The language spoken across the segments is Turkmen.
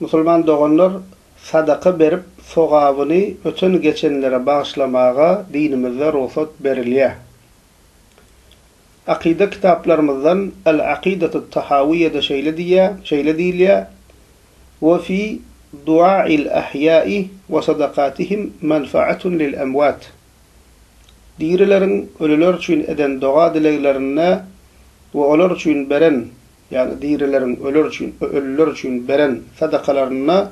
Musulman doganlar sadaka berip sogabyny öten geçenlere bagyşlamaga dinimizde rugsat berilýär. Akyda kitaplarymyzdan El Akidatu Tahawiýede şeýle diýýär, şeýle diýilýär, We fi duail ahýa'i we sadakatihim manfaatun lil emwat. Dirileriň ölüler üçin eden doga-dileglerinde we olar üçin beren Ýa-da dirileriň öler üçin we ölüler üçin beren sadakalarynda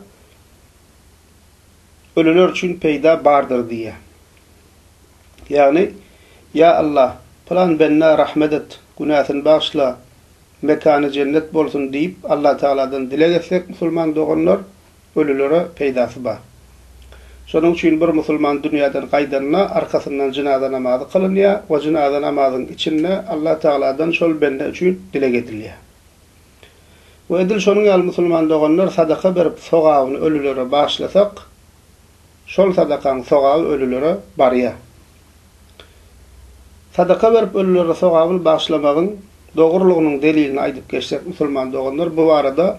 ölüler üçin peýda bardyr diýýär. Ýagny, Ýa Allah, pylan bendä rahmet et, günäsini bagyşla, mekany jennet bolsun diýip Allatagaladan dileg etsek musulman doganlar, Ölülere peýdasy bar. Şonuň üçin bir musulman dünýäden gaýdanda, arkasyndan jynaza namazy kylynýar we jynaza namazyň içinde Allah Tagaladan şol bende üçin dileg edilýär. We edil şonuň ýaly musulman doganlar sadaka berip sogabyny ölülere bagyşlasak, şol sadakaň sogaby ölülere barýar. Sadaka berip ölülere sogabyny bagyşlamagyň dogrulygynyň delilini aýdyp geçsek musulman doganlar bu barada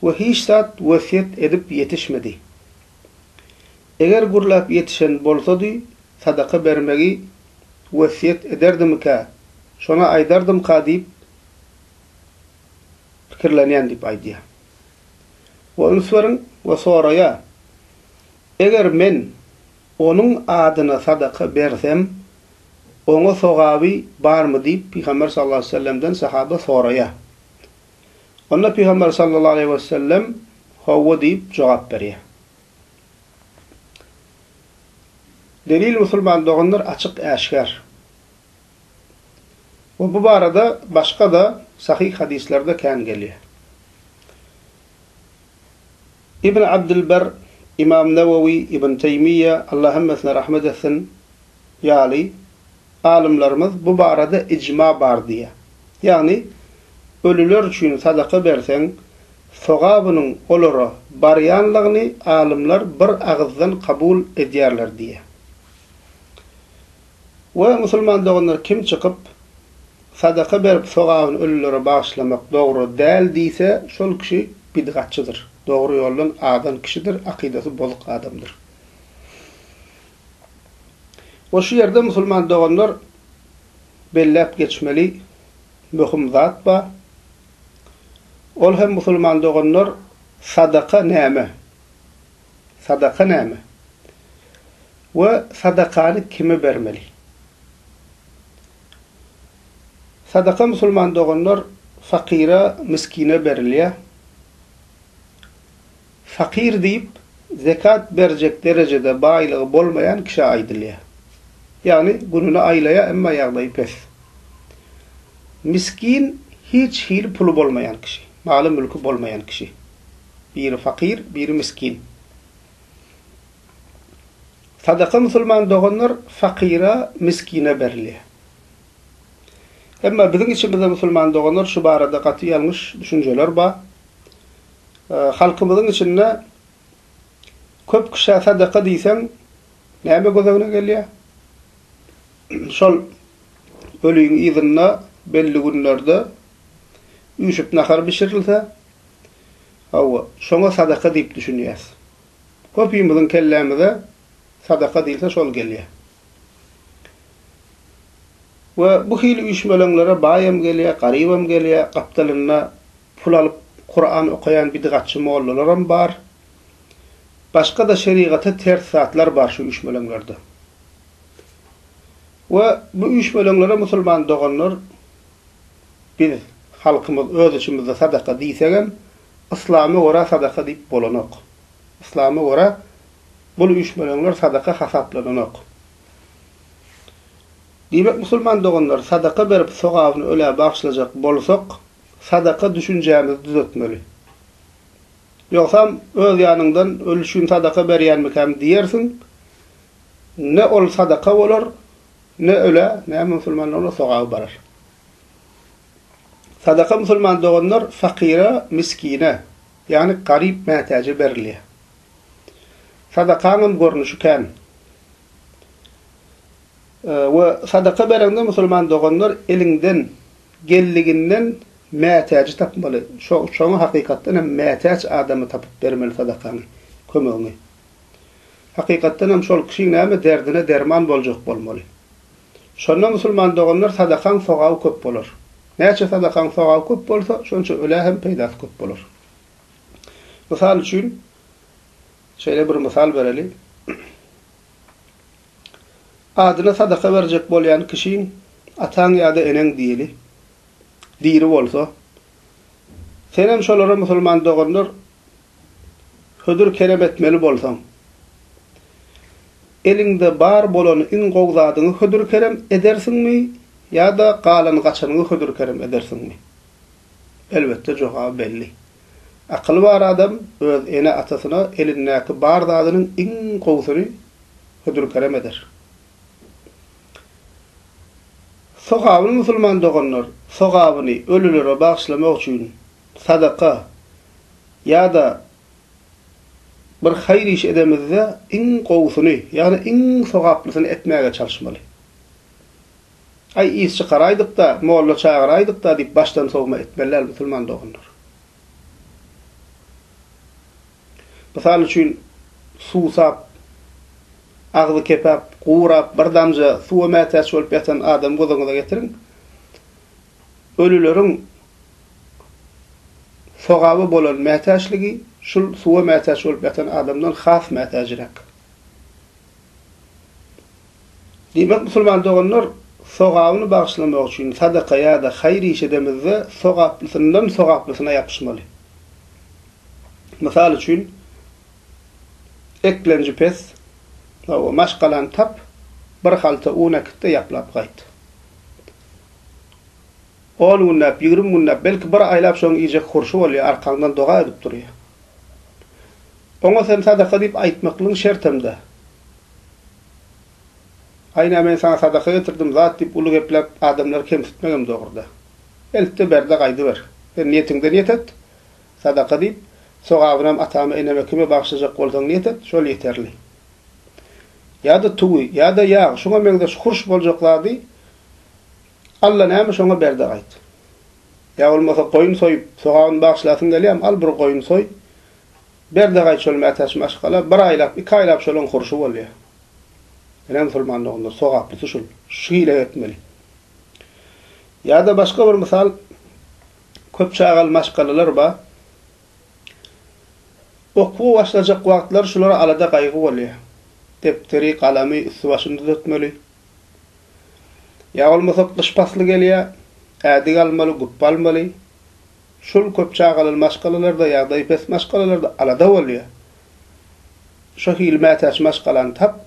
we hiç zat wesýet edip ýetişmedi. Eger gürläp ýetişen bolsady, sadaka bermegi wesýet ederdimikä, şony aýdardymyka diýip pikirlenýän diýip aýdýar. We üns beriň we soraýar, Eger men onuň adyna sadaka bersem, oňa sogaby barmy diýip Pygamber sallallahu aleýhi we sellemden sahaba soraýar. Onda Pygamber sallallahu aleýhi we sellem Howwa diýip jogap berýär. Delil musulman doganlar açyk äşgär. We bu barada başga-da sahyh hadyslerde kän gelýär. Ibn Abdylber, Imam Nawawi, Ibn Teýmiýe, Allah hemmesine rahmet etsin, ýaly, alymlarymyz bu barada ijma bar diýýär. Ýagny, ölüler üçin sadaka berseň, sogabynyň olara barýanlygyny alymlar bir agyzdan kabul edýärler diýýär. We musulman doganlar kim çykyp, sadaka berip sogabyny ölülere bagyşlamak dogry däl diýse, şol kişi bidgatçydyr, dogry ýoldan azan kişidir, akydasy bozuk adamdyr. We şu ýerde musulman doganlar belläp geçmeli möhüm zat bar. Ol hem musulman doganlar sadaka näme? Sadaka näme? We sadakany kime bermeli? Sadaka musulman doganlar fakyra, miskine berilýär. Fakyr diýip, zekat berjek derejede baýlygy bolmaýan kişä aýdylýar. Ýagny gününi aýlaýar, emma ýagdaýy pes. Miskin, hiç hili puly bolmaýan kişi, maly-mülki bolmaýan kişi. Biri fakyr, biri miskin. Sadaka musulman doganlar fakyra, miskine berilýär. Emma biziň içimizde musulman doganlar şu barada gaty ýalňyş düşünjeler bar. Halkymyzyň içinde köp kişä sadaka diýseň näme göz öňüne gelýär? Şol öliň yzynda belli günlerde üýşüp nahar bişirilse, hawa, şoňa sadaka diýip düşünýäs. Köpimiziň kellämize sadaka diýilse şol gelýär. We bu hili üýşmeleňlere baýam gelýär, garybam gelýär, gapdalynda Pul alyp Kuran okaýan bidgatçy mollalaram bar. Başga-da şerigata ters zatlar bar şu üýşmeleňlerde. We bu üýşmeleňlere musulman doganlar biz halkymyz öz içimizde sadaka diýsegem yslama görä sadaka diýip bolanok. Yslama görä bul üýşmeleňler sadaka hasaplananok. Diýmek musulman doganlar sadaka berip sogabyny ölä bagyşlajak bolsak sadaka düşünjämizi düzetmeli. Ýogsam, öz ýanyňdan ölüşgin sadaka berýänmikäm diýersiň, ne ol sadaka bolar, ne ölä, ne musulmana onuň sogaby barar. Sadaka musulman doganlar fakyra, miskine, ýagny garyp mätäje berilýär. Sadakaňam görnüşi kän. We sadaka bereňde musulman doganlar eliňden geldiginden mätäji tapmaly. Şoňa hakykatdan hem mätäç adamy tapyp bermeli sadakaňy, kömegiňi. Hakykatdan hem şol kişiň näme derdine derman boljak bolmaly. Şonda musulman doganlar sadakaň sogaby köp bolar. Näçe sadakaň sogaby köp bolsa, şonça ölä hem peýdasy köp bolar. Mysal üçin, şeýle bir mysal bereli. Adyna sadaka berjek bolýan kişiň ataň ýa-da eneň diýeli, diri bolsa. Senem şolara musulman doganlar hödür kerem etmeli bolsaň. Eliňde bar bolany iň gowy zadyňy hödür kerem edersiňmi ýa-da galan gaçanyňy hödür kerem edersiňmi? Elbetde jogaby belli. Akyly bar adam öz ene-atasyna elindäki bar zadynyň iň gowusyny hödür-kerem eder. Sogabyny musulman doganlar sogabyny ölülere bagyşlamak üçin sadaka ýa-da bir haýyr iş edemizde iň gowusyny, ýagny iň sogaplysyny etmäge çalyşmaly. Aý, is çykaraýdyk-da, molla çagyraýdyk-da diýip başdan sowma etmeli däl musulman doganlar. Mysal üçin, suwsap, agzy kepäp, gurap, bir damja suwa mätäç bolup ýatan adamy göz öňüňize getiriň. Ölüleriň sogaba bolan mätäçligi şul suwa mätäç bolup ýatan adamdan has mätäjräk. Diýmek, musulman doganlar, sogabyny bagyşlamak üçin sadaka ýa-da haýyr iş edemizde, sogaplysyndan sogaplysyna ýapyşmaly. Mysal üçin, Eklenji pes, hawa, maşgalany tap, bir halta un äkit-de, ýaplap gaýt. On günläp, ýigrimi günläp, belki, bir aýlap şoň iýjek hurşy bolýar, arkaňdan doga edip durýar. Oňa sen sadaka diýip aýtmaklygyň şertem-dä. Aýna men saňa sadaka getirdim zat diýip uly gepläp adamlary kemsitmegem dogruda. Eltde berde gaýdyber. Sen niýetiňde niýet et. Sadaka diýip, sogabynam atama eneme kime bagşlajak bolsaň niýet et, şol ýeterli. Ýa-da tugy, ýa-da ýag, şuňa meňzeş hurş boljak zady Alla näme şoňa berde gaýt. Ýa bolmasa goýun soýup, sogabyny bagşlasyň gelýämi al bir goýun soý. Berdigaý çöl mätäç maşgala bir aýlap, iki aýlap şolyň hurşy bolýar. Ine musulman doganlar, sogaplysy şul, şu hile etmeli. Ýa-da başga bir mysal, köp çagaly maşgalalar bar. Okuwa başlajak wagtlary şulara alada gaýgy bolýar. Depderi, galamy, üsti-başyny düzetmeli. Ýa bolmasa gyş pasly gelýär, ädik almaly, gupba almaly. Şul köp çagaly maşgalalarda ýagdaýy pes maşgalalarda alada bolýar. Şo hili mätäç maşgalany tap,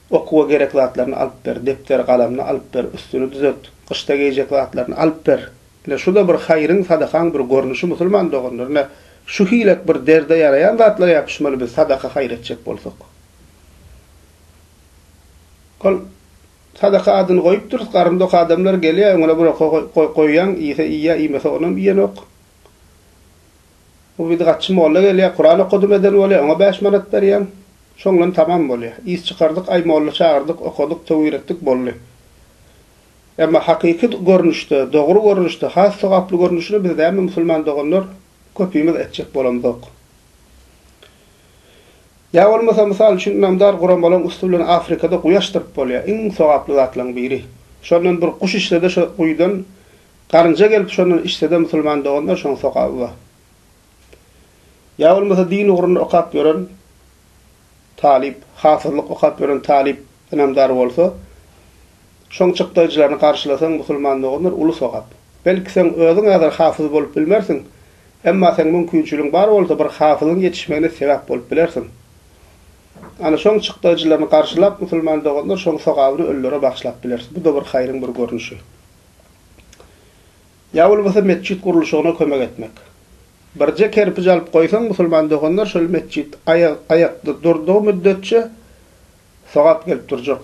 okuwa gerek zatlaryny alyp ber, depder, galamny alyp ber, üstüni düzelt, gyşda geýjek zatlaryny alyp ber. Ine şuda bir haýryň, sadakaň bir görnüşi musulman doganlar. Ine şu hilek bir derde ýaraýan zatlar ýapyşmaly biz sadaka haýyr etjek bolsak. Ol Sadaka adyny goýupdyrys, garynda ok adamlar gelýär, öňüne bir oka goýýaň, iýse iýýär, iýmese onam iýenok. Bir bidgatçy molla gelýär, Kuran okadym eden bolýar, oňa bäş manat berýäň, şoň bilen tamam bolýar. Is çykardyk, aý molla çagyrdyk, okadyk, töwir etdik, boldy. Emma hakyky görnüşde, dogry görnüşde, has sogaply görnüşini biz näme musulman doganlar köpimiz etjek bolamzok. Ýa bolmasa, mysal üçin, ynamdar guramalaryň üsti bilen Afrikada guýy açdyryp bolýar, iň sogaply zatlaryň biri. Şondan bir guş içsede şo guýydan garynja gelip şondan içsede musulman doganlar şoň sogaby bar. Ýa bolmasa din ugrunda okap ýören talyp, hafyzlyk okap ýören talyp ynamdar bolsa, Şoň çykdaýjylaryny garşylasaň musulman doganlar uly sogap. Belki seň özüň häzir hafyz bolup bilmersiň, emma seň mümkinçiligiň bar bolsa bir hafyzyň ýetişmegine sebäp bolup bilersiň. Ana şoň çykdaýjylaryny garşylap musulman doganlar şoň sogabyny ölülere bagyşlap bileris. Bu-da bir haýryň bir görnüşi. Ýa bolmasa metjit gurluşygyna kömek etmek. Birje kerpij alyp goýsaň musulman doganlar şol metjit aýak aýakda durdygy müddetçe sogap gelip durjak.